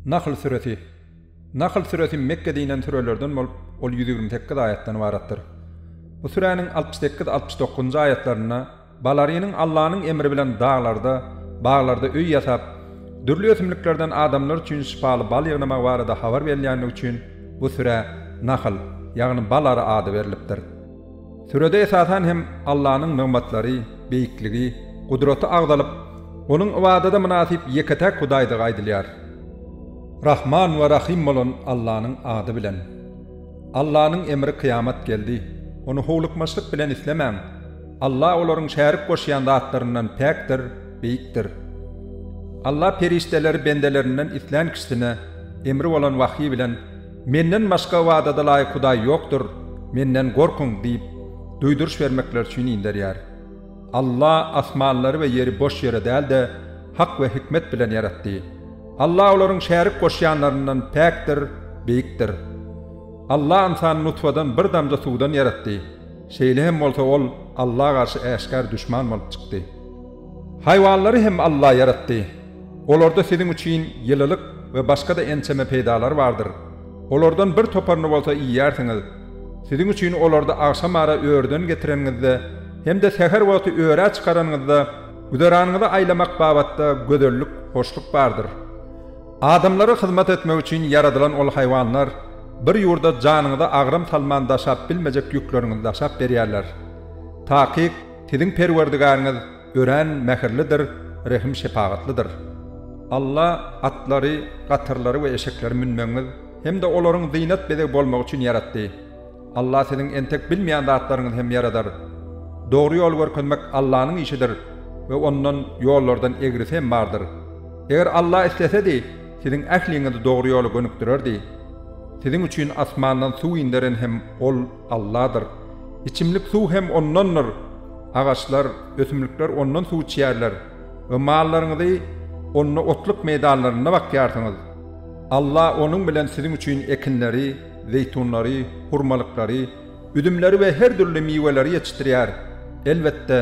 Nahl süresi. Nahl süresi Mekgede inen sürelerden bolup, ol ýüz ýigrimi sekiz aýatdan ybaratdyr. Bu süräniň altmyş sekiz, altmyş dokuzynjy aýatlarynda Balarynyň Allanyň emri bilen daglarda, baglarda öý ýasap, dürli ösümliklerden adamlar üçin şypaly bal ýygnamagy barada habar berilýändigi üçin bu sürä Nahl, ýagny Balary ady berlipdir. Sürede esasan hem Allanyň nygmatlary, beýikligi, gudraty agzalyp, Onuň ybadada mynasyp ýeke-täk Hudaýdygy aýdylýar. Rahman we Rahym bolan Allanyň ady bilen. Allanyň emri kyýamat geldi. Ony howlukmaçlyk bilen islemäň. Alla olaryň şärik goşýan zatlaryndan päkdir, beýikdir. Alla perişdeleri bendelerinden islän kişisine emri bolan wahýy bilen, Menden başga ybadadalaýyk Hudaý ýokdur, Menden gorkuň! diýip, duýduryş bermekleri üçin inderýär. Alla asmanlary we ýeri boş ýere däl-de, hak we hikmet bilen ýaratdy. Alla olaryň şärik goşýanlaryndan päkdir, beýikdir. Alla ynsany nutfadan bir damja suwdan ýaratdy. Şeýle hem bolsa ol Alla garşy äşgär duşman bolup çykdy. Haýwanlary hem Alla ýaratdy. Olarda siziň üçin ýylylyk we başga-da ençeme peýdalar bardyr. Olardan bir toparyny bolsa iýýärsiňiz. Siziň üçin olary agşam ara örüden getireniňizde hem-de säher wagty örä çykaranyňyzda güzeranyňyzy aýlamak babatda gözellik, hoşluk bardyr. Adamlara hyzmat etmek üçin ýaradylan ol haýwanlar bir ýurda janyňyza agram salman daşap bilmejek ýükleriňizi daşap berýärler. Takyk, siziň Perwerdigäriňiz, Örän mähirlidir, rehim-şepagatlydyr. Alla atlary, gatyrlary we eşekleri münmegiňiz hem-de olaryň zynat-bezeg bolmagy üçin ýaratdy. Alla siziň entek bilmeýän zatlaryňyzy hem ýaradar. Dogry ýoly görkezmek Allanyň işidir we Ondan ýollardan egrisi hem bardyr. Eger Alla islesedi, siziň ähliňizi dogry ýola gönükdirerdi. Siziň üçin asmandan suw inderen hem Ol. Alladyr. Içimlik suw hem Ondandyr. Agaçlar, ösümlikler Ondan suw içýärler we mallaryňyzy Onda otluk meýdanlarynda bakýarsyňyz. Alla Onuň bilen siziň üçin ekinleri, zeýtunlary, hurmalyklary, üzümleri we her dürli miweleri ýetişdirýär. Elbetde,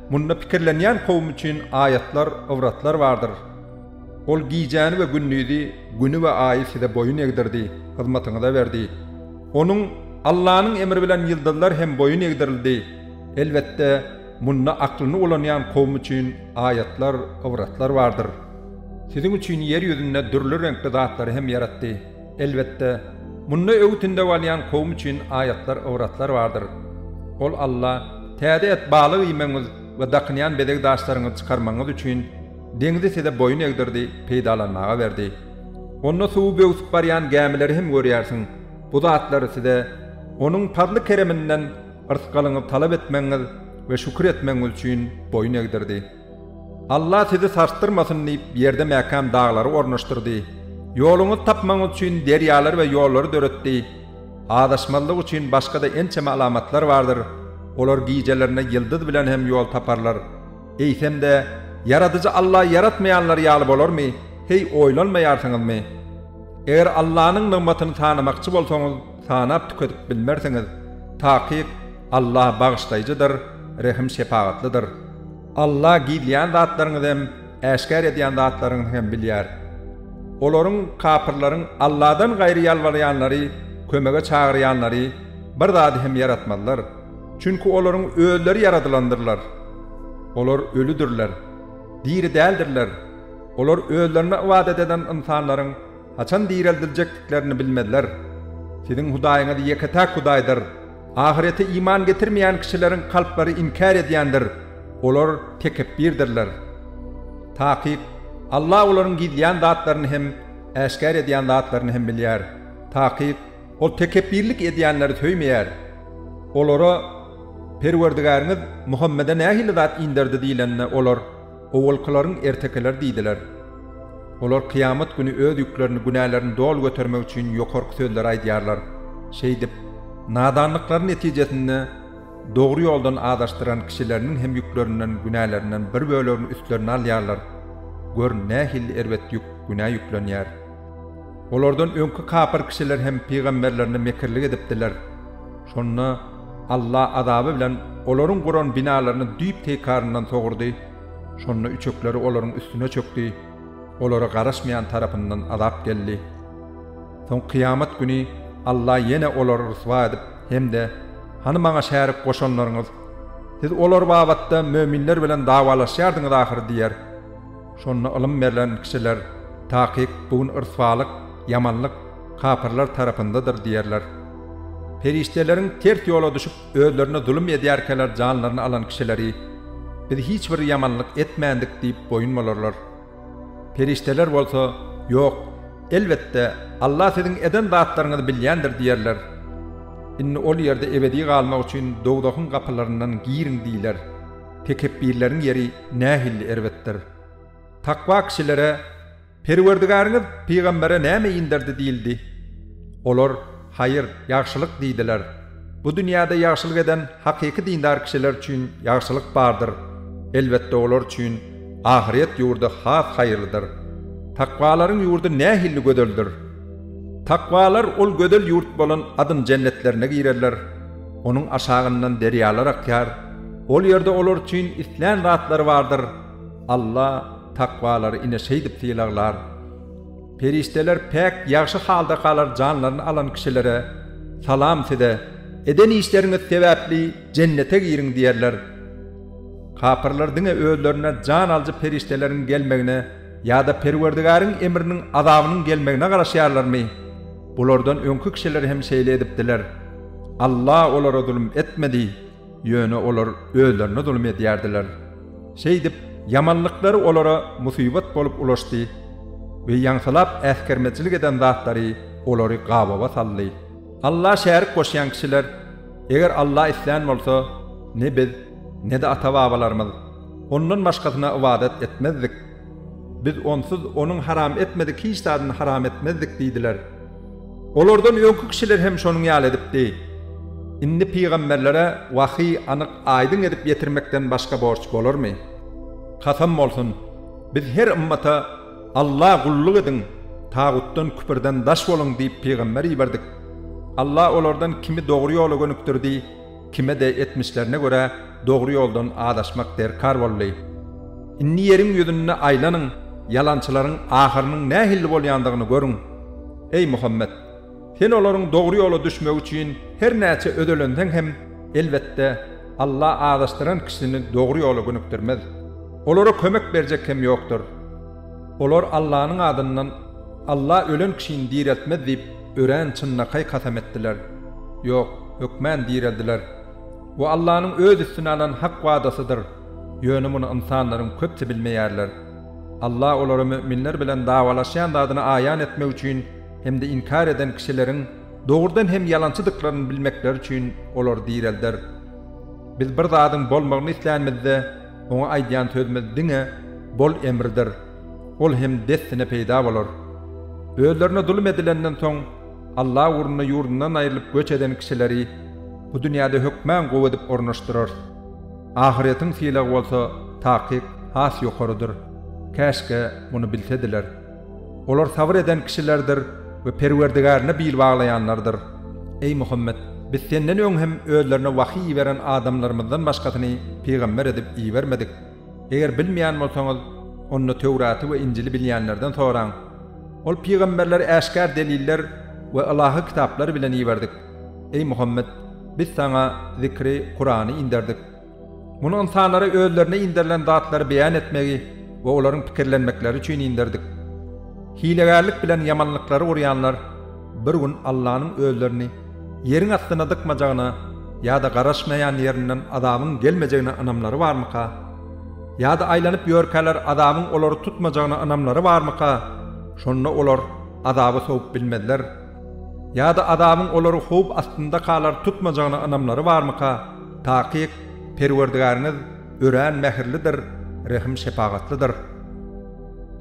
munda pikirlenýän kowum üçin aýatlar, ybratlar bardyr. Ol gijäni we gündizi, güni we aýy size boýun egdirdi, hyzmatyňyza berdi. Onuň, Allanyň, emri bilen ýyldyzlar hem boýun egdirildi. Elbetde, munda aklyny ulanýan kowum üçin aýatlar, ybratlar bardyr. Siziň üçin ýer ýüzünde dürli reňkli zatlary hem ýaratdy. Elbetde, munda öwüt-ündew alýan kowum üçin aýatlar, ybratlar bardyr. Ol Alla, Täze et, balyk iýmegiňiz we dakynýan bezeg daşlaryňyzy çykarmagyňyz üçin, Deňzi size boýun egdirdi, peýdalanmaga berdi. Onda suwy böwsüp barýan gämileri hem görýärsiň. Bu zatlary size Onuň pazly-kereminden yrsgalyňyzy talap etmegiňiz we şükür etmegiňiz üçin boýun egdirdi. Alla sizi sarsdyrmasyn diýip, ýerde mäkäm daglary ornaşdyrdy. Ýoluňyzy tapmagyňyz üçin derýalary we ýollary döretdi. Azaşmazlyk üçin başga-da ençeme alamatlar bardyr. Olar gijelerine ýyldyz bilen hem ýol taparlar. Eýsem-de, Ýaradyjy Alla ýaratmaýanlar ýaly bolarmy? Heý, oýlanmaýarsyňyzmy? Eger Allanyň nygmatyny sanamakçy bolsaňyz, sanap tükedip bilmersiňiz. Takyk, Alla Bagyşlaýjydyr, Rehim-şepagatlydyr. Alla gizleýän zatlaryňyzy hem, äşgär edýän zatlaryňyzy hem bilýär. Olaryň, kapyrlaryň, Alladan gaýry ýalbarýanlary, kömege çagyrýanlary bir zady hem ýaratmazlar. Çünki olaryň özleri ýaradylandyrlar. Olar ölüdirler, diri däldirler, olar özlerine ybadat eden ynsanlaryň haçan direldiljekdiklerini bilmezler. Siziň Hudaýyňyz ýeke-täk Hudaýdyr. Ahyrete iman getirmeýän kişileriň kalplary inkär edýändir, olar tekepbirdirler. Takyk, Alla olaryň gizleýän zatlaryny hem, äşgär edýän zatlaryny hem bilýär. Takyk, Ol tekepbirlik edýänleri söýmeýär. Olara, Perwerdigäriňiz Muhammede nähili zat inderdi diýlende, olar, Owalkylaryň ertekileri diýdiler. Olar kyýamat güni öz ýüklerini, günälerini doly götermek üçin ýokarky sözleri aýdýarlar. Şeýdip, nadanlyklary netijesinde dogry ýoldan azaşdyran kişileriniň hem ýüklerinden, günälerinden bir bölegini üstlerine alýarlar. Gör, nähili erbet ýük, günä ýüklenýär! Olardan öňki kapyr kişiler hem pygamberlerine mekirlik edipdiler. Şonda Alla azaby bilen olaryň guran binalaryny düýp-teýkaryndan sogurdy. Şonda üçekleri olaryň üstüne çökdi. Olara garaşmaýan tarapyndan azap geldi. Soň kyýamat güni Alla ýene olary ryswa edip hem-de, Hany Maňa şärik goşanlaryňyz? Siz olar babatda möminler bilen dawalaşýardyňyz ahyry diýer. Şonda ylym berlen kişiler, Takyk, bu gün ryswalyk, ýamanlyk, kapyrlar tarapyndadyr diýerler. Perişdeleriň ters ýola düşüp, özlerine zulum edýärkäler janlaryny alan kişileri, Biz hiç bir ýamanlyk etmändik diýip boýun bolarlar. Perişdeler bolsa, Ýok, elbetde, Alla siziň eden zatlaryňyzy bilýändir diýerler. Indi ol ýerde ebedi galmak üçin dowzahyň gapylaryndan giriň diýler. Tekepbirleriň ýeri nähilli erbetdir! Takwa kişilere, Perwerdigäriňiz pygambere näme inderdi diýildi. Olar, Haýyr, ýagşylyk diýdiler. Bu dünýäde ýagşylyk eden hakyky dindar kişiler üçin ýagşylyk bardyr, elbetde olar üçin ahyret ýurdy has haýyrlydyr. Takwalaryň ýurdy nähilli gözeldir! Takwalar ol gözel ýurt bolan Adyn jennetlerine girerler. Onuň aşagyndan derýalar akýar, ol ýerde olar üçin islän zatlary bardyr. Alla takwalary ine şeýdip sylaglar. Perişdeler päk, ýagşy halda galar janlaryny alan kişilere, Salam size! Eden işleriňiz sebäpli Jennete giriň diýerler. Kapyrlar diňe özlerine jan alyjy perişdeleriň gelmegine ýa-da Perwerdigäriň emriniň, azabynyň gelmegine garaşýarlarmy? Bulardan öňki kişiler hem şeýle edipdiler. Alla olara zulum etmedi, ýöne olar özlerine zulum edýärdiler. Şeýdip, ýamanlyklary olara musybat bolup ulaşdy we ýaňsylap äsgermezçilik eden zatlary olary gabawa saldy. Alla şärik goşýan kişiler, Eger Alla islän bolsa, ne biz, ne-de ata-babalarymyz Ondan başgasyna ybadat etmezdik. Biz Onsuz Onuň haram etmedik hiç zadyny haram etmezdik diýdiler. Olardan öňki kişiler hem şonuň ýaly edipdi. Indi pygamberlere wahy anyk, aýdyň edip ýetirmekden başga borç bolarmy? Kasam bolsun, biz her ymmata Alla gulluk ediň, tagutdan, küpürden, daş boluň diýip pygamber iberdik. Alla olardan kimi dogry ýola gönükdirdi, Kime-de etmişlerine görä dogry ýoldan azaşmak derkar boldy. Indi ýeriň ýüzünde aýlanyň, ýalançylaryň ahyrynyň nähilli bolýandygyny görüň. Eý Muhammet! Sen olaryň dogry ýola düşmegi üçin her näçe özelenseň hem, elbetde, Alla azaşdyran kişini dogry ýola gönükdirmez. Olara kömek berjek hem ýokdur. Olar Allanyň adyndan, Alla ölen kişini direltmez diýip, Örän çynlakaý kasam etdiler. Ýok, hökmän direldiler. Bu Allanyň öz üstüne alan hak wadasydyr. Ýöne muny ynsanlaryň köpsi bilmeýärler. Alla olara müminler bilen dawalaşýan zadyny aýan etmek üçin hem-de inkär eden kişileriň dogrudan hem ýalançydyklaryny bilmekleri üçin olary direlder. Biz bir zadyň bolmagyny islänimizde, oňa aýdýan sözümiz diňe Bol emridir. Ol hem dessine peýda bolar. Özlerine zulum edilenden soň, Allah ugrunda ýurdundan aýrylyp göç eden kişileri bu dünýäde hökman gowy edip ornaşdyrarys. Ahyretiň sylagy bolsa takyk has ýokarydyr. Käşgä muny bilsediler. Olar sabyr eden kişilerdir we Perwerdigärine bil baglaýanlardyr. Eý Muhammet! Biz senden öň hem özlerine wahýy iberen adamlarymyzdan başgasyny pygamber edip ibermedik. Eger bilmeýän bolsaňyz, onda Töwraty we Injili bilýänlerden soraň. Ol pygamberleri äşgär deliller we ylahy kitaplar bilen iberdik. Eý Muhammet, biz saňa Zikri, Kurany, inderdik. Muny ynsanlara özlerine inderilen zatlary beýan etmegi we olaryň pikirlenmekleri üçin inderdik. Hilegärlik bilen ýamanlyklary gurýanlar. Bir gün Allanyň özlerini ýeriň astyna dykmajagyna ýa-da garaşmaýan ýerinden azabyň gelmejegine ynamlary barmyka? Ýa-da aýlanyp ýörkäler azabyň olary tutmajagyna ynamlary barmyka? Şonda olar azaby sowup bilmezler. Ýa-da azabyň olary howp astynda kalar tutmajagyna ynamlary barmyka? Takyk, Perwerdigäriňiz örän mähirlidir, rehim-şepagatlydyr.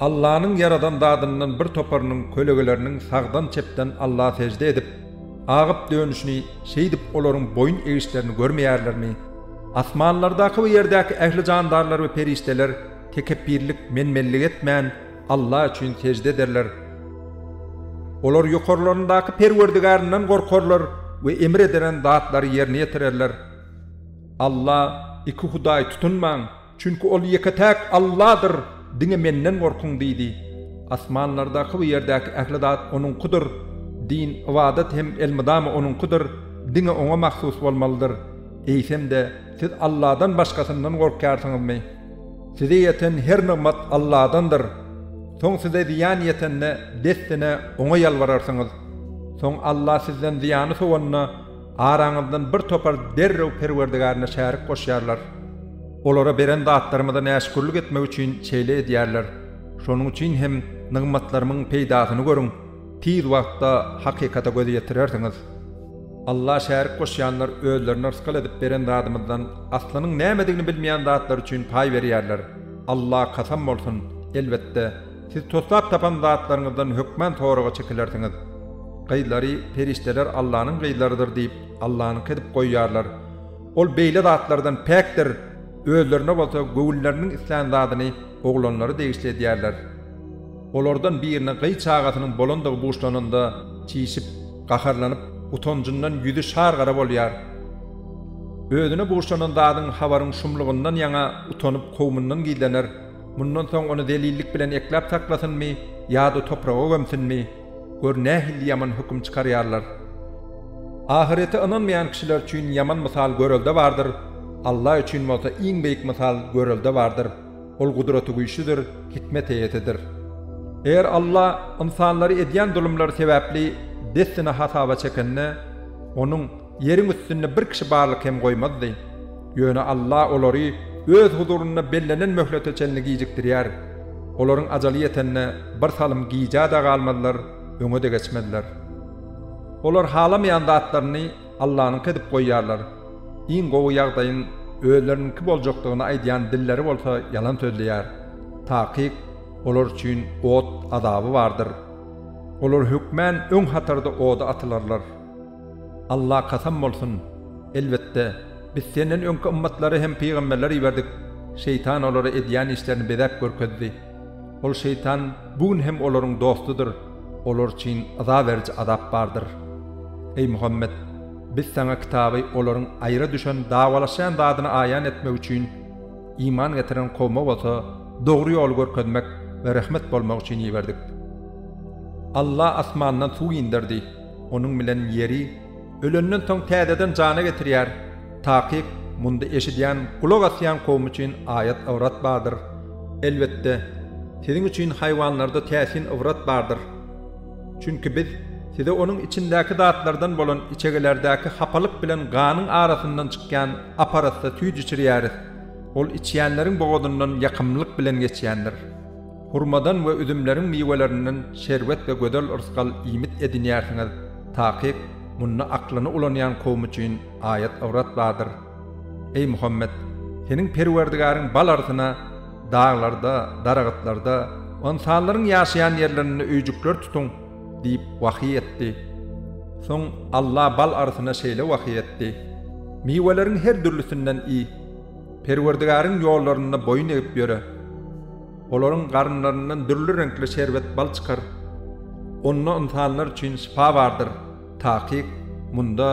Allanyň ýaradan zadyndan bir toparynyň kölegeleriniň sagdan-çepden Alla sežde edip, agyp dönüşini, şeýdip olaryň boýun egişlerini görmeýärlermi? Asmanlardaky we ýerdäki ähli jandarlar we perişdeler tekepbirlik, menmenlik etmän, Alla üçin sežde ederler. Olar ýokarlaryndaky Perwerdigärinden gorkarlar we emr ederen zatlary ýerine ýetirerler. Alla, iki hudaý tutunmaň! Çünki ol ýeke-täk Alladyr, diňe Menden gorkuň diýdi. Asmanlardaky we ýerdäki ähli zat Onuňkydyr. Din, ybadat hem elmydama Onuňkydyr, diňe Oňa mahsus bolmalydyr. Eýsem-de, siz Alladan başgasyndan gorkýarsyňyzmy? Size ýeten her nygmat Alladandyr. Soň size zyýan ýetende, dessine Oňa ýalbararsyňyz. Soň Alla sizden zyýany sowanda, Araňyzdan bir topar derrew Perwerdigärine şärik goşýarlar. Olara beren zatlarymyza näşükürlik etmek üçin şeýle edýärler. Şonuň üçin hem nygmatlarymyň peýdasyny görüň, tiz wagtda hakykata göz ýetirersiňiz. Alla şärik goşýanlar özlerine rysgal edip beren zadymyzdan aslynyň nämedigini bilmeýän zatlar üçin paý berýärler. Alla kasam bolsun, elbetde! Siz toslap tapan zatlaryňyzdan hökman soraga çekilersiňiz. Gyzlary, Perişdeler Allanyň gyzlarydyr diýip, Allanyňky edip goýýarlar. Ol beýle zatlardan päkdir, özlerine bolsa göwünleriniň islän zadyny oglanlara degişli edýärler. Olardan biriniň gyz çagasynyň bolandygy buşlananda, çişip, gaharlanyp, utanjyndan ýüzi şar-gara bolýar. Özüne buşlanan zadyň habaryň şumlugyndan ýaňa utanyp kowumyndan gizlener. Mundan soň ony zelillik bilen ekläp saklasynmy ýa-da topraga gömsünmi? Gör, nähili ýaman höküm çykarýarlar! Ahyrete ynanmaýan kişiler üçin ýaman mysal görelde bardyr, Alla üçin bolsa iň beýik mysal görelde bardyr, Ol Gudratygüýçlüdir, hikmet eýesidir. Eger Alla ynsanlary edýän zulumlary sebäpli dessine hasaba çekende, Onuň, Ýeriň üstünde bir kişi barlyk hem goýmazdy. Ýöne Alla olary Öz huzurynda bellenen möhlete çenli gijikdirýär. Olaryň ajaly ýetende bir salym gijä-de galmazlar, öňe-de geçmezler. Olar halamaýan zatlaryny Allanyňky edip goýýarlar. Iň gowy ýagdaýyň özleriniňki boljakdygyny aýdýan dilleri bolsa ýalan sözleýär. Takyk, olar üçin ot azaby bardyr. Olar hökmän öň hatarda oda atylarlar. Alla kasam bolsun! Elbetde, Biz senden öňki ymmatlara hem pygamberler iberdik, şeýtan olara edýän işlerini bezäp görkezdi. Ol şeýtan bu gün hem olaryň dostudyr, olar üçin yza beriji azap bardyr. Eý Muhammet! Biz saňa kitaby olaryň aýra düşen dawalaşýan zadyny aýan etmek üçin, iman getiren kowma bolsa dogry ýoly görkezmek we rehmet bolmak üçin iberdik. Alla asmandan suw inderdi. Onuň bilen ýeri ölenden soň täzeden jana getirýär. Takyk, munda eşidýän, gulak asýan kowum üçin aýat-ybrat bardyr. Elbetde, siziň üçin haýwanlarda täsin ybrat bardyr. Çünki Biz size onuň içindäki zatlardan bolan içegelerdäki hapalyk bilen ganyň arasyndan çykýan ap-arassa süýt içirýäris. Ol içýänleriň bogazyndan ýakymlylyk bilen geçýändir. Hurmadan we üzümleriň miwelerinden şerbet we gözel yrsgal iýmit edinýärsiňiz, takyk, munda aklyny ulanýan kowum üçin aýat-ybrat bardyr. Eý, Muhammet! Seniň Perwerdigaryň bal arsyna, daglarda, daragtlarda, ynsanlaryň ýaşaýan ýerlerinde öýjükler tutuň! diýip, wahyý etdi. Soň Alla bal arsyna şeýle wahyý etdi, Miweleriň her dürlüsinden iý. Perwerdigaryň ýollarynda boýun egip ýöre. Olaryň garynlaryndan dürli reňkli şerbet bal çykar. Onda ynsanlar üçin şypa bardyr. Takyk, munda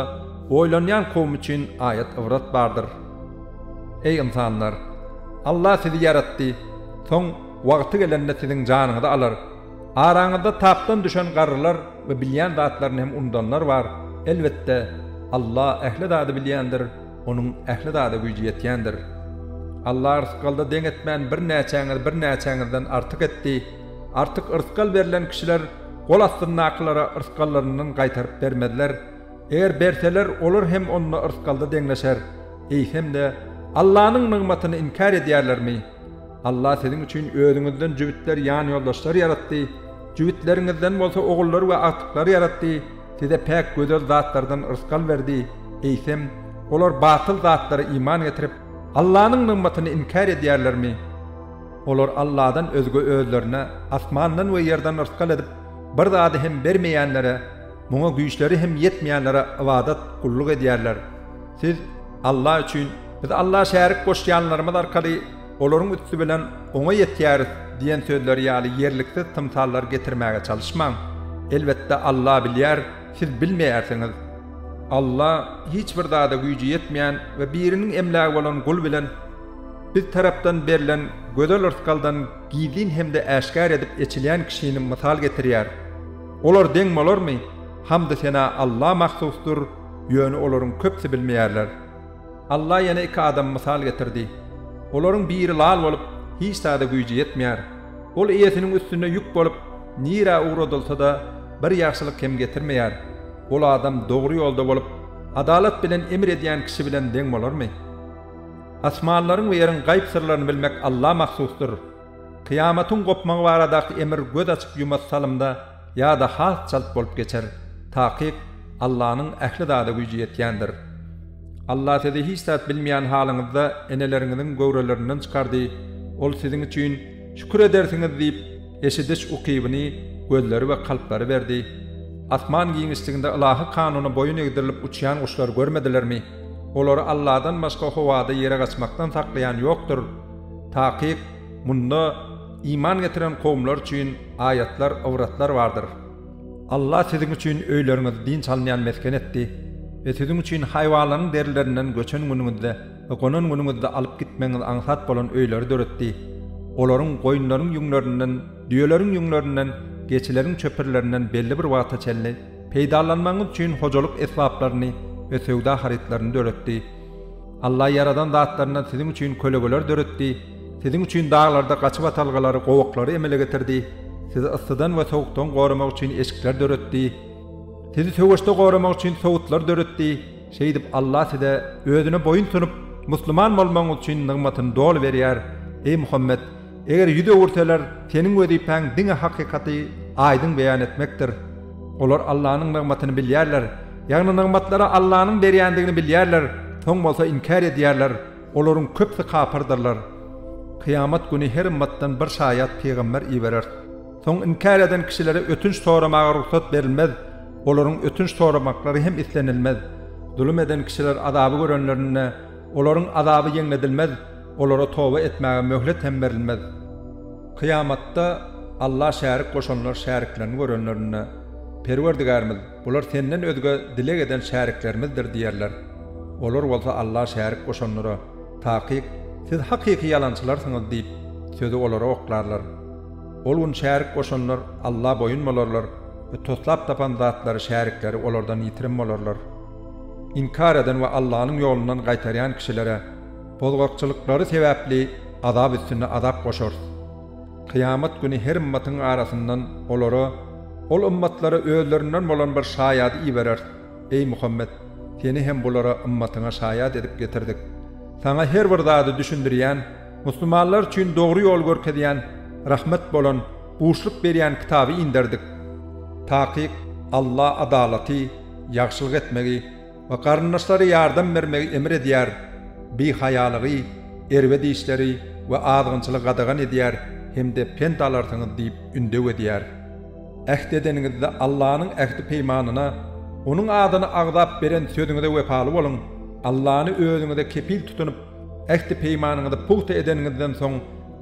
oýlanýan kowum üçin aýat-ybrat bardyr. Eý, ynsanlar! Allah sizi ýaratdy, soň wagty gelende siziň janyňyzy alar. Araňyzda tapdan düşen garrylar we bilýän zatlaryny hem unudanlar bar. Elbetde, Allah ähli zady bilýändir. Onuň ähli zada güýji ýetýändir. Alla yrsgalda deň etmän birnäçäňiz birnäçäňizden artyk etdi, artyk yrsgal berlen kişiler gol astyndakylara yrsgallaryndan gaýtaryp bermezler, eger berseler olar hem onda yrsgalda deňleşer, eýsemde Allanyň nygmatyny inkär edýärlermi? Alla siziň üçin özüňizden jübütler ýanýoldaşlar ýaratdy, jübütleriňizden bolsa ogullar we agtyklar ýaratdy, Size päk gözel zatlardan rysgal berdi, eýsem, olar batyl zatlara iman getirip, Allanyň nygmatyny inkär edýärlermi? Olar Alladan özge özlerine asmandan we ýerden rysgal edip, bir zady hem bermeýänlere, muňa güýçleri hem ýetmeýänlere ybadat, gulluk edýärler. Siz, Alla üçin, Biz Alla şärik goşýanlarymyz arkaly Olaryň üsti bilen oňa ýetýäris diýen sözleri ýaly ýerliksiz tymsallar getirmäge çalyşmaň. Elbetde Alla bilýär, siz bilmeýärsiňiz. Alla hiç bir zada güýji ýetmeýän we biriniň emlägi bolan gul bilen Biz tarapdan berlen gözel rysgaldan gizlin hem-de äşgär edip eçilýän kişini mysal getirýär. Olar deň bolarmy? Hamdy-sena Alla mahsusdyr, ýöne olaryň köpsi bilmeýärler. Allah ýene iki adamy mysal getirdi. Olaryň biri lal bolup, hiç zada güýji ýetmeýär. Ol eýesiniň üstünde ýük bolup, nirä ugradylsa-da, bir ýagşylyk hem getirmeýär. Ol adam dogry ýolda bolup, adalat bilen emr edýän kişi bilen deň bolarmy? Asmanlaryň we ýeriň gaýyp syrlaryny bilmek Alla mahsusdyr. Kyýamatyň gopmagy baradaky emr göz açyp-ýumassalymda, ýa-da has çalt bolup geçer, takyk Allanyň ähli zada güýji ýetýändir. Allah sizi hiç zat bilmeýän halyňyzda eneleriňiziň göwrelerinden çykardy, Ol siziň üçin, şükür edersiňiz diýip, eşidiş ukybyny, gözleri we kalplary berdi. Asman giňişliginde ylahy kanuna boýun egdirilip uçýan guşlary görmedilermi? Olary Alladan başga howada ýere gaçmakdan saklaýan ýokdur. Takyk, munda, Iman getiren kowumlar üçin aýatlar, ybratlar bardyr. Allah siziň üçin öýleriňizi dynç alynýan mesgen etdi we siziň üçin haýwanlaryň derilerinden göçen günüňizde we gonan günüňizde alyp gitmegiňiz aňsat bolan öýleri döretdi. Olaryň goýunlaryň ýüňlerinden, düýeleriň ýüňlerinden, geçileriň çöpürlerinden belli bir wagta çenli peýdalanmagyňyz üçin hojalyk esbaplaryny we söwda harytlaryny döretdi. Allah ýaradan zatlaryndan siziň üçin kölegeler döretdi. Siziň üçin daglarda gaçyp atalgalary, gowaklary emele getirdi, sizi yssydan we sowukdan goramak üçin eşikler döretdi, sizi söweşde goramak üçin sowutlar döretdi, şeýdip Alla size, Özüne boýun sunup, musulman bolmagyňyz üçin nygmatyny doly berýär. Eý Muhammet! Eger ýüz öwürseler, seniň wezipäň diňe hakykaty aýdyň beýan etmekdir. Olar Allanyň nygmatyny bilýärler, ýagny nygmatlary Allanyň berýändigini bilýärler, soň bolsa inkär edýärler. Olaryň köpüsi kapyrdyrlar. Kyýamat güni her ymmatdan bir şaýat, pygamber, ibereris. Soň inkär eden kişilere ötünç soramaga rugsat berilmez, olaryň ötünç soramaklary hem islenilmez. Zulum eden kişiler azaby görenlerinde, olaryň azaby ýeňledilmez, olara toba etmäge möhlet hem berilmez. Kyýamatda Alla şärik goşanlar şäriklerini görenlerinde, Perwerdigärimiz! Bular senden özge dileg eden şäriklerimizdir diýerler. Olar bolsa Alla şärik goşanlara, Takyk, siz hakyky ýalançylarsyňyz diýip, sözi olara oklarlar. Ol gün şärik goşanlar Alla boýun bolarlar we toslap tapan zatlary şärikleri olardan ýitirim bolarlar. Inkar eden we Allanyň ýolundan gaýtarýan kişilere bozgakçylyklary sebäpli azap üstüne azap goşarys. Kyýamat güni her ymmatyň arasyndan olara, ol ymmatlara özlerinden bolan bir şaýady ibereris. Eý, Muhammet! Seni hem bulara, ymmatyňa, şaýat edip getirdik. Saňa her bir zady düşündirýän, musulmanlar üçin dogry ýol görkezýän, rahmet bolan, buşluk berýän kitaby inderdik. Takyk, Alla adalaty, ýagşylyk etmegi, we garyndaşlary ýardam bermegi emr edýär, bihaýalygy, erbet işleri we azgynçylygy gadagan edýär hem-de pent alarsyňyz diýip ündew edýär. Äht edeniňizde Allanyň ähdi-peýmanyna, Onuň adyny agzap beren sözüňize wepaly boluň, Allany özüňize kepil tutunyp, ähdi-peýmanyňyzy pugta edeniňizden soň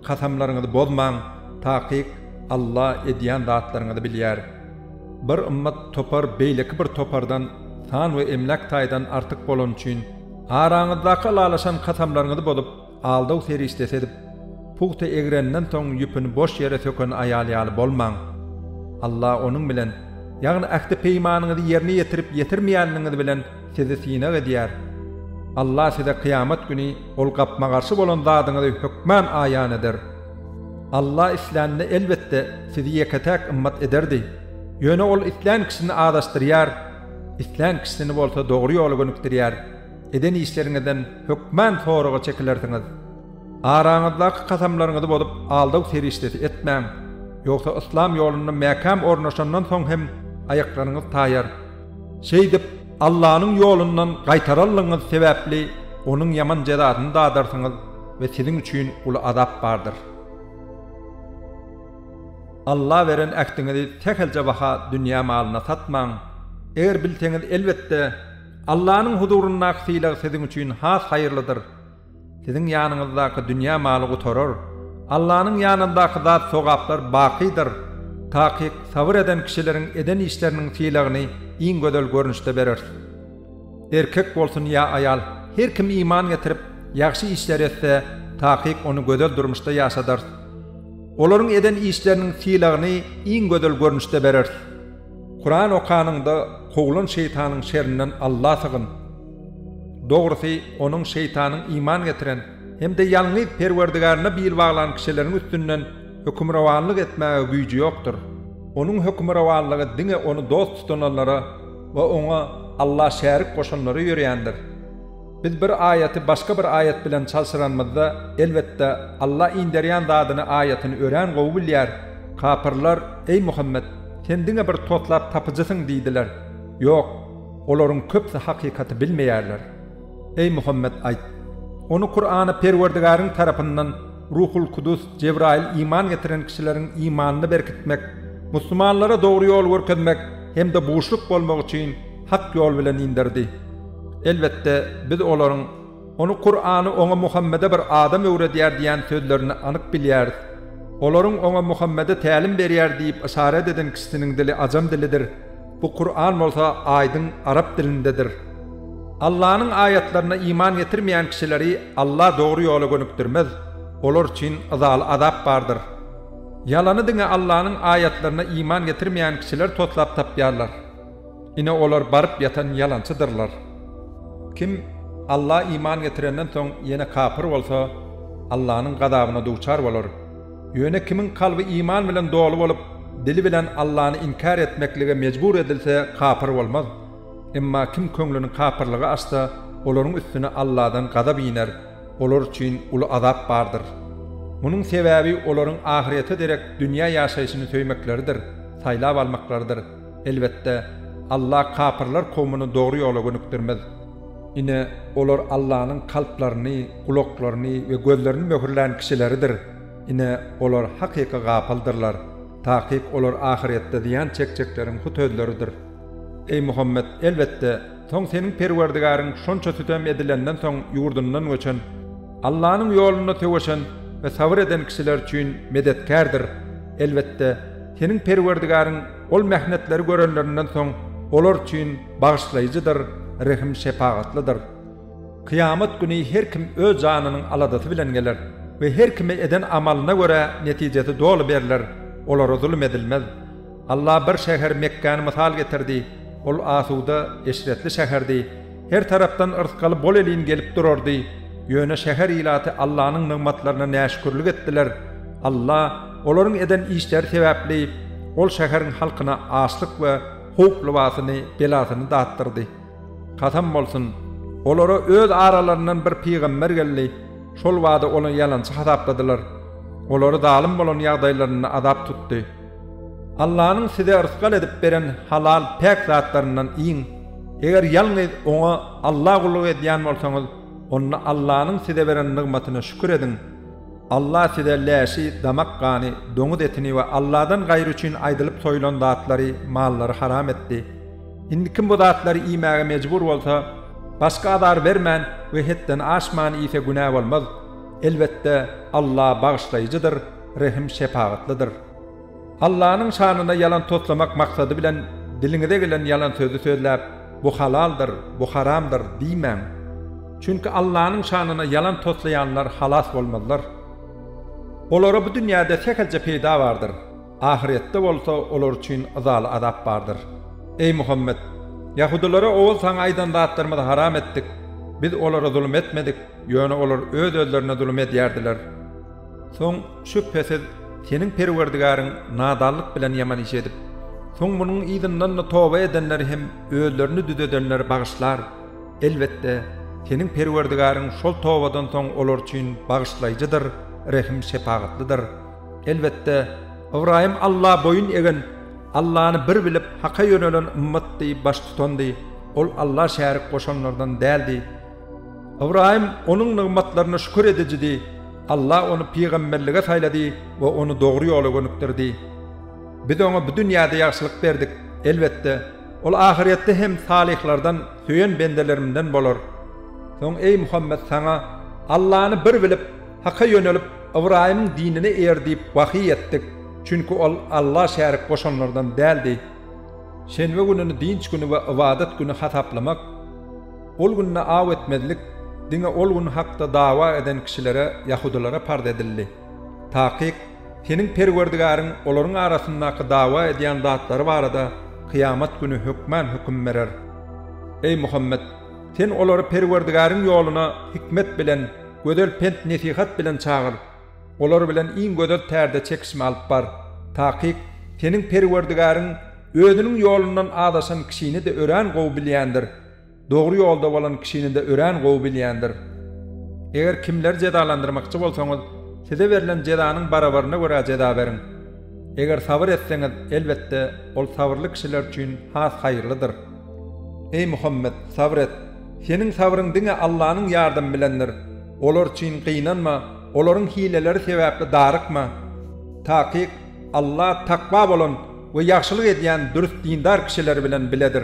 kasamlaryňyzy bozmaň, takyk Alla edýän zatlaryňyzy bilýär. Bir ymmat topar beýleki bir topardan san we emläk taýdan artyk bolany üçin, araňyzdaky ylalaşan kasamlaryňyzy bozup, aldaw serişdesi edip, pugta egreninden soň ýüpüni boş ýere söken aýal ýaly bolmaň. Alla onuň bilen, ýagny ähti-peýmanyňyzy ýerine ýetirip ýetirmeýänligiňiz bilen sizi synag edýär. Alla size kyýamat güni ol gapma-garşy bolan zadyňyzy hökman aýan eder. Alla islänini elbetde sizi ýeke-täk ymmat ederdi. Ýöne Ol islän kişini azaşdyrýar, islän kişisini bolsa dogry ýola gönükdirýär. Eden işleriňizden hökman soraga çekilersiňiz. Araňyzdaky kasamlaryňyzy bozup aldaw serişdesi etmäň. Ýogsa yslam ýolunda mäkäm ornaşandan soň hem aýaklaryňyz taýar. Şeýdip, Allanyň ýolundan gaýtaranlygyňyz sebäpli Onuň ýaman jezasyny dadarsyňyz we siziň üçin uly azap bardyr. Alla beren ähtiňizi sähelçe baha dünýä malyna satmaň. Eger bilseňiz, elbetde, Allanyň huzuryndaky sylag siziň üçin has haýyrlydyr. Siziň ýanyňyzdaky dünýä maly gutarar. Allanyň ýanyndaky zat sogaplar bakydyr. Takyk sabyr eden kişileriň eden işleriniň sylagyny iň gözel görnüşde bereris. Erkek bolsun ýa aýal, her kim iman getirip, ýagşy işler etse, takyk ony gözel durmuşda ýaşadarys. Olaryň eden işleriniň sylagyny iň gözel görnüşde bereris. Kuran okanyňda kowlan şeýtanyň şerinden Alla sygyn. Dogrusy, onuň şeýtanyň iman getiren hem-de ýalňyz Perwerdigarine bil baglan kişileriň üstünden hökümrowanlyk etmäge güýji ýokdur. Onuň hökümrowanlygy diňe ony dost tutanlara we oňa Alla şärik goşanlara ýörändir. Biz bir aýaty başga bir aýat bilen çalşyranymyzda, elbetde, Alla inderýän zadyny, aýatyny örän gowy bilýär. Kapyrlar, Eý Muhammet! Sen diňe bir toslap tapyjysyň diýdiler. Ýok! Olaryň köpsi hakykaty bilmeýärler. Eý Muhammet aýt, Ony, Kurany, Perwerdigäriň tarapyndan Ruhul Kudus, Jebraýyl, iman getiren kişileriň imanyny berkitmek, musulmanlara dogry ýol görkezmek hem-de buşluk bolmak üçin hak ýol bilen inderdi. Elbetde, biz olaryň, Ony, Kurany, oňa, Muhammede, bir adam öwredýär diýýän sözlerini anyk bilýäris. Olaryň oňa, Muhammede, tälim berýär diýip yşarat eden kişisiniň dili ajam dilidir. Bu Kuran bolsa aýdyň arap dilindedir. Allanyň aýatlaryna iman getirmeýän kişileri Alla dogry ýola gönükdirmez, olar üçin yzaly azap bardyr. Ýalany diňe Allanyň aýatlaryna iman getirmeýän kişiler toslap tapýarlar. Ine olar baryp ýatan ýalançydyrlar. Kim Alla iman getirenden soň ýene kapyr bolsa, Allanyň gazabyna duçar bolar. Ýöne kimiň kalby iman bilen doly bolup, dili bilen Allany inkär etmeklige mejbur edilse, kapyr bolmaz. Emma kim köňlüni kapyrlyga açsa, olaryň üstüne Alladan gazap iner, olar üçin uly azap bardyr. Munuň sebäbi olaryň ahyrete derek dünýä ýaşaýşyny söýmekleridir, saýlap almaklarydyr. Elbetde, Alla kapyrlar kowmuny dogry ýola gönükdirmez. Ine, olar Allanyň kalplaryny, gulaklaryny we gözlerini möhürlän kişileridir. Ine, olar hakyky gapyldyrlar. Takyk olar ahyretde zyýan çekjekleriň hut özleridir. Eý, Muhammet, elbetde, soň seniň Perwerdigäriň şonça sütem edilenden soň ýurdundan göçen, Allanyň ýolunda söweşen we sabyr eden kişiler üçin medetkärdir. Elbetde, seniň Perwerdigäriň ol mähnetleri görenlerinden soň olar üçin, Bagyşlaýjydyr, rehim-şepagatlydyr. Kyýamat güni her kim öz janynyň aladasy bilen geler we her kime eden amalyna görä netijesi doly berler, olara zulum edilmez. Allah bir şäher Mekgäni mysal getirdi, ol asuda, eşretli şäherdi, her tarapdan yrsgaly bolelin gelip durardy, ýöne şäher ilaty Allanyň nygmatlaryna näşükürlik etdiler, Allah olaryň eden işleri sebäpli ol şäheriň halkyna açlyk we howp lybasyny, belasyny datdyrdy. Kasam bolsun, olara öz aralaryndan bir pygamber geldi, şol bada ony ýalançy hasapladylar. Olary zalym bolan ýagdaýlarynda azap tutdy. Allanyň size rysgal edip beren halal, päk zatlaryndan iýiň. Eger ýalňyz Oňa, Alla gulluk edýän bolsaňyz, onda Allanyň size beren nygmatyna şükür ediň. Allah size läşi, damak gany, doňuz etini we Allahdan gaýry üçin aýdylyp soýulan zatlary, mallary haram etdi. Indi kim bu zatlary iýmäge mejbur bolsa, başga azar bermän we hetden aşman iýse günä bolmaz. Elbetde, Allah Bagyşlaýjydyr, Rehim-şepagatlydyr. Allanyň şanyna ýalan toslamak maksady bilen diliňize gelen ýalan sözi sözläp, Bu halaldyr, bu haramdyr diýmäň. Çünki Allanyň şanyna ýalan toslaýanlar halas bolmazlar. Olara bu dünýäde sähelçe peýda bardyr, ahyrýetde bolsa olar üçin yzaly azap bardyr. Eý Muhammet! Ýahudylara owal saňa aýdan zatlarymyzy haram etdik, biz olara zulum etmedik, ýöne olar öz-özlerine zulum edýärdiler. Soň, Şübhesiz, seniň Perwerdigäriň nadanlyk bilen ýaman iş edip, soň munuň yzyndan-da toba edenleri hem özlerini düzedenleri bagyşlar. Elbetde, seniň Perwerdigäriň şol tobadan soň olar üçin Bagyşlaýjydyr, Rehim-şepagatlydyr. Elbetde, Ybraýym Alla boýun egen, Allany bir bilip, Haka ýönelen ymmatdy, baştutandy, ol Alla şärik goşanlardan däldi. Ybraýym Onuň nygmatlaryna şükür edijidi. Alla ony pygamberlige saýlady we ony dogry ýola gönükdirdi. Biz oňa bu dünýäde ýagşylyk berdik. Elbetde, ol ahyrýetde hem salyhlardan, söýen bendelerimden bolar. Soň, eý Muhammet, saňa, Allany bir bilip, Haka ýönelip, Ybraýymyň dinine eýer diýip wahýy etdik, çünki ol Alla şärik goşanlardan däldi. Şenbe gününi dynç güni we ybadat güni hasaplamak. Ol günde aw etmezlik diňe ol gün hakda dawa eden kişilere, ýahudylara parz edildi. Takyk, seniň Perwerdigäriň olaryň arasyndaky dawa edýän zatlary barada kyýamat güni hökmän höküm berer. Eý, Muhammet, sen olary Perwerdigäriň ýoluna hikmet bilen, gözel pent-nesihat bilen çagyr. Olar bilen iň gözel tärde çekişme alyp bar. Takyk, seniň Perwerdigäriň Özüniň ýolundan azaşan kişini-de örän gowy bilýändir. Dogry ýolda bolan kişini-de örän gowy bilýändir. Eger kimleri jezalandyrmakçy bolsaňyz, size berlen jezanyň barabaryna görä jeza beriň. Eger sabyr etseňiz, elbetde, ol sabyrly kişiler üçin has haýyrlydyr. Eý Muhammet, sabyr et! Seniň sabryň diňe Allanyň ýardamy bilendir. Olar üçin gynanma, olaryň hileleri sebäpli darykma. Takyk, Alla takwa bolan we ýagşylyk edýän dürs dindar kişileri bilen biledir.